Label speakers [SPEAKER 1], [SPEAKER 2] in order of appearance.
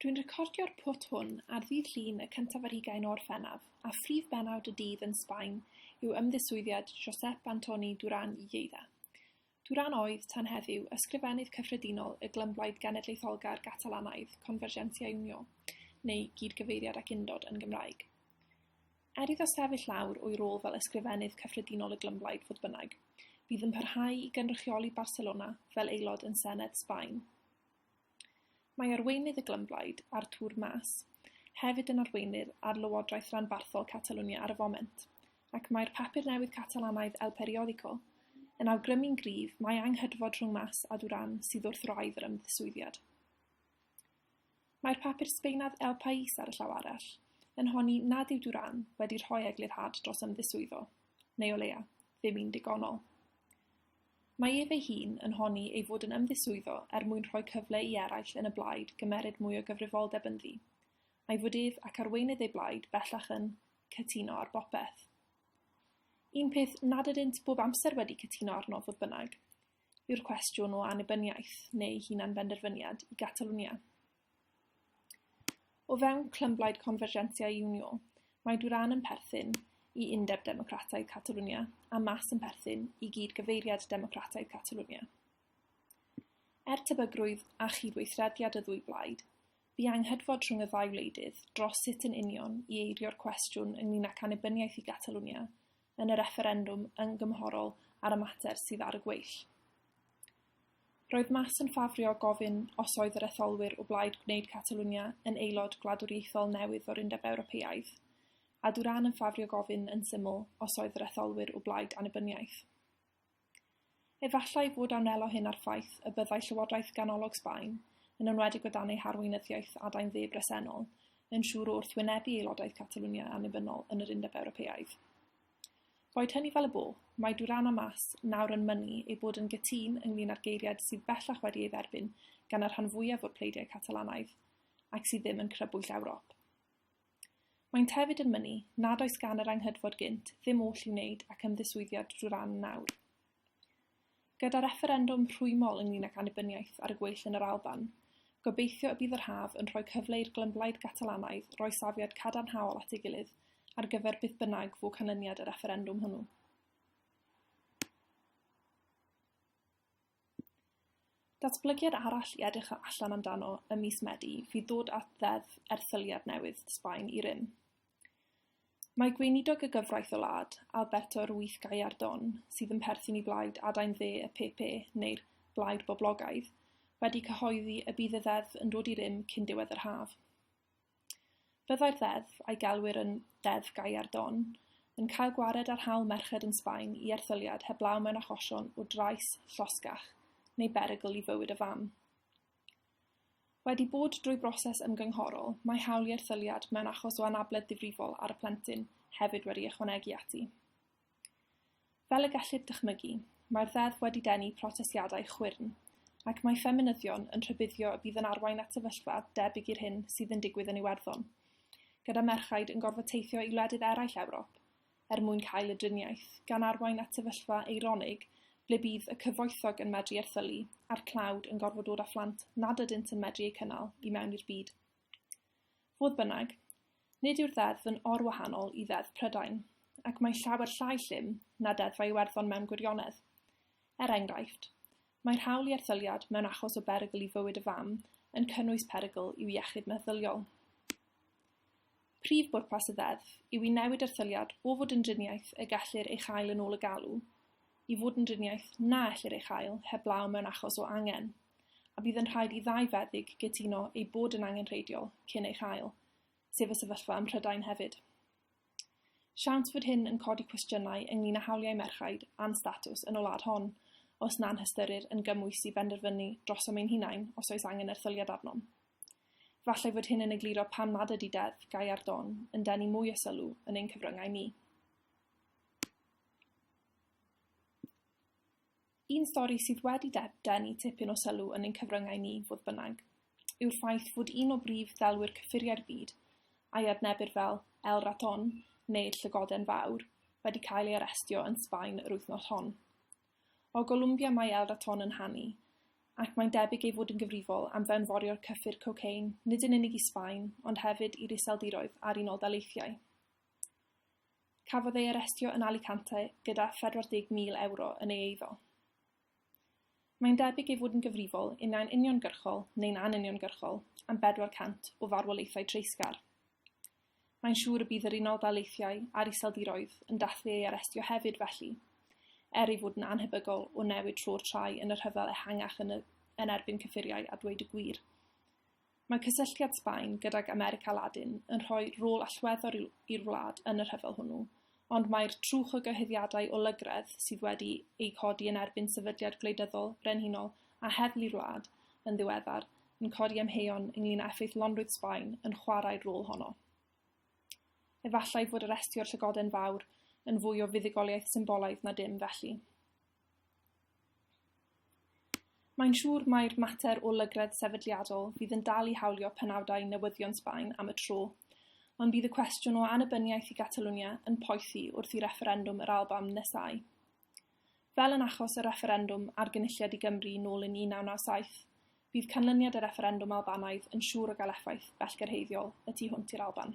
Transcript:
[SPEAKER 1] Dwi'n recordio'r pwt hwn ar ddydd Llun y cyntaf ar hugain o Orffennaf, a phrif bennawd y dydd yn Sbaen yw ymddiswyddiad Josep Antoni Duran i Lleida. Duran oedd, tan heddiw, Ysgrifennydd Cyffredinol y Glymblaid Genedlaetholgar Gatalanaidd, Convergència i Unió, neu Gyd-gyfeiriad ac Undod yn Gymraeg. Er iddo sefyll lawr o'i rôl fel Ysgrifennydd Cyffredinol y Glymblaid, fodd bynnag, bydd yn parhau i gynrychioli Barcelona fel aelod yn Senedd Sbaen. Mae arweinydd y Glymblaid, Artur Mas, hefyd yn arweinydd ar Lywodraeth Ranbarthol Catalwnia ar y foment, ac mae'r papur newydd Catalanaidd El Periódico yn awgrymu'n gryf mai anghydfod rhwng Mas a Duran sydd wrth wraidd yr ymddiswyddiad. Mae'r papur Sbaenaidd El País ar y llaw arall, yn honni nad yw Duran wedi rhoi eglurhad dros ymddiswyddo, neu o leia, ddim un digonol. Mae ef ei hun yn honni ei fod yn ymddiswyddo er mwyn rhoi cyfle i eraill yn y blaid gymeryd mwy o gyfrifoldeb ynddi, a'i fod ef ac arweinydd ei blaid bellach yn cytuno ar bopeth. Un peth nad ydynt bob amser wedi cytuno arno, fodd bynnag, yw'r cwestiwn o annibyniaeth neu hunan-benderfyniad i Gatalwnia. O fewn clymblaid Convergencia i Unio, mae Duran yn perthyn i Undeb Democrataidd Catalwnia a Mas yn perthyn i gyd-gyfeiriad Democrataidd Catalwnia. Er tebygrwydd a chydweithrediad y ddwy blaid, bu anghydfod rhwng y ddau wleidydd dros sut yn union i eirio'r cwestiwn ynglyn â canibyniaeth i Gatalwnia yn y refferendwm yn gymhorol ar y mater sydd ar y gweill. Roedd Mas yn ffafrio gofyn os oedd yr etholwyr o blaid gwneud Catalwnia yn aelod gwladwriaethol newydd o'r Undeb Ewropeaidd, a Duran yn ffafrio gofyn yn syml os oedd yr etholwyr o blaid annibyniaeth. Efallai fod amnelo hyn â'r ffaith y byddai llywodraeth ganolog Sbaen, yn enwedig o dan ei harweinyddiaeth adain dde bresennol, yn siŵr o wrthwynebu aelodaeth Catalwnia annibynnol yn yr Undeb Ewropeaidd. Boed hynny fel y bo, mae Duran a Mas nawr yn mynnu eu bod yn gytûn ynglŷn â'r geiriad sydd bellach wedi ei dderbyn gan y rhan fwyaf o'r pleidiau Catalanaidd, ac sydd ddim yn crybwyll Ewrop. Maent hefyd yn mynnu nad oes gan yr Anghydfod gynt ddim oll i'w wneud ac ymddiswyddiad drwy ran yn awr. Gyda refferendwm rhwymol ynglyn ag annibyniaeth ar y gweill yn yr Alban, gobeithio y bydd yr haf yn rhoi cyfle i'r glymblaid Gatalanaidd roi safiad cadarnhaol at ei gilydd ar gyfer beth bynnag fu canlyniad y refferendwm hwnnw. Datblygiad arall i edrych allan amdano ym mis Medi fydd dod at ddeddf erthyliad newydd Sbaen i rym. Mae gweinidog y gyfraith o wlad, Alberto Ruiz Gallardón, sydd yn perthyn i blaid adain dde y PP, neu'r Blaid Boblogaidd, wedi cyhoeddi y bydd y ddeddf yn dod i rym cyn diwedd yr haf. Byddai'r ddeddf, a'i gelwir yn 'Ddeddf Gallardón', yn cael gwared ar hawl merched yn Sbaen i erthyliad heblaw mewn achosion o drais, llosgach neu berygl i fywyd y fam. Wedi bod drwy broses ymgynghorol, mae hawl i erthyliad mewn achos o anabledd difrifol ar y plentyn hefyd wedi ychwanegu ati. Fel y gellir dychmygu, mae'r Ddeddf wedi denu protestiadau chwyrn, ac mae ffeminyddion yn rhybuddio y bydd yn arwain at sefyllfa debyg i'r hyn sydd yn digwydd yn Iwerddon, gyda merchaid yn gorfod teithio i wledydd eraill Ewrop er mwyn cael y driniaeth, gan arwain at sefyllfa eironig ble bydd y cyfoethog yn medru erthylu a'r tlawd yn gorfod dod â phlant nad ydynt yn medru eu cynnal i mewn i'r byd Fodd bynnag, nid yw'r ddeddf yn orwahanol i Ddeddf Prydain, ac mae'n llawer llai llym na Deddfau Iwerddon mewn gwirionedd. Er enghraifft, mae'r hawl i erthyliad mewn achos o berygl i fywyd y fam yn cynnwys perygl i'w iechyd meddyliol. Prif bwrpas y ddeddf yw i newid erthyliad o fod yn driniaeth y gellir ei chael yn ôl y galw i fod yn driniaeth na ellir ei chael heblaw mewn achos o angen. a bydd yn rhaid i ddau feddyg gytuno ei bod yn angenrheidiol cyn ei chael, sef y sefyllfa ym Mhrydain hefyd. Siawns fod hyn yn codi cwestiynau ynglyn â hawliau merchaid a'n statws yn y wlad hon, os na'n hystyrir yn gymwys i benderfynu drosom ein hunain os oes angen erthyliad arnom. Falle fod hyn yn egluro pam nad ydy deddf gau ar don yn denu mwy o sylw yn ein cyfryngau ni. Un stori sydd wedi denu tipyn o sylw yn ein cyfryngau ni, fodd bynnag, yw'r ffaith fod un o brif ddelwyr cyffuriau'r byd, a'i adnebir fel El Raton, neu'r Llygoden Fawr, wedi cael ei arestio yn Sbaen yr wythnos hon. O Golumbia mae El Raton yn hanu, ac mae'n debyg ei fod yn gyfrifol am fewnforio'r cyffur cocaine nid yn unig i Sbaen, ond hefyd i'r Iseldiroedd a'r Unol Daleithiau. Cafodd ei arestio yn Alicante gyda 40,000 ewro yn ei eiddo. Mae'n debyg ei fod yn gyfrifol, unau'n uniongyrchol neu'n anuniongyrchol, am 400 o farwolaethau treisgar. Mae'n siŵr y bydd yr Unol Daleithiau a'r Iseldiroedd yn dathlu ei arestio hefyd felly, er ei fod yn anhebygol o newid tro'r trai yn y rhyfel ehangach yn, y, yn erbyn cyffuriau a dweud y gwir. Mae cysylltiad Sbaen gydag America Ladin yn rhoi rôl allweddol i'w i'r wlad yn y rhyfel hwnnw, ond mae'r trwch o gyhuddiadau o lygredd sydd wedi eu codi yn erbyn sefydliad gwleidyddol brenhinol a heddlu'r wlad yn ddiweddar yn codi amheuon ynglŷn â effeithlonrwydd Sbaen yn chwarae'r rôl honno. Efallai fod arestio'r llygoden fawr yn fwy o fuddugoliaeth symbolaidd na dim felly. Mae'n siŵr mai'r mater o lygredd sefydliadol fydd yn dal i hawlio penawdau newyddion Sbaen am y tro, ond bydd y cwestiwn o annibyniaeth i Gatalwnia yn poethi wrth i refferendwm yr Alban nesáu. Fel yn achos y refferendwm ar Gynulliad i Gymru nôl yn 1997, bydd canlyniad y refferendwm Albanaidd yn siŵr o gael effaith bellgyrhaeddiol y tu hwnt i'r Alban.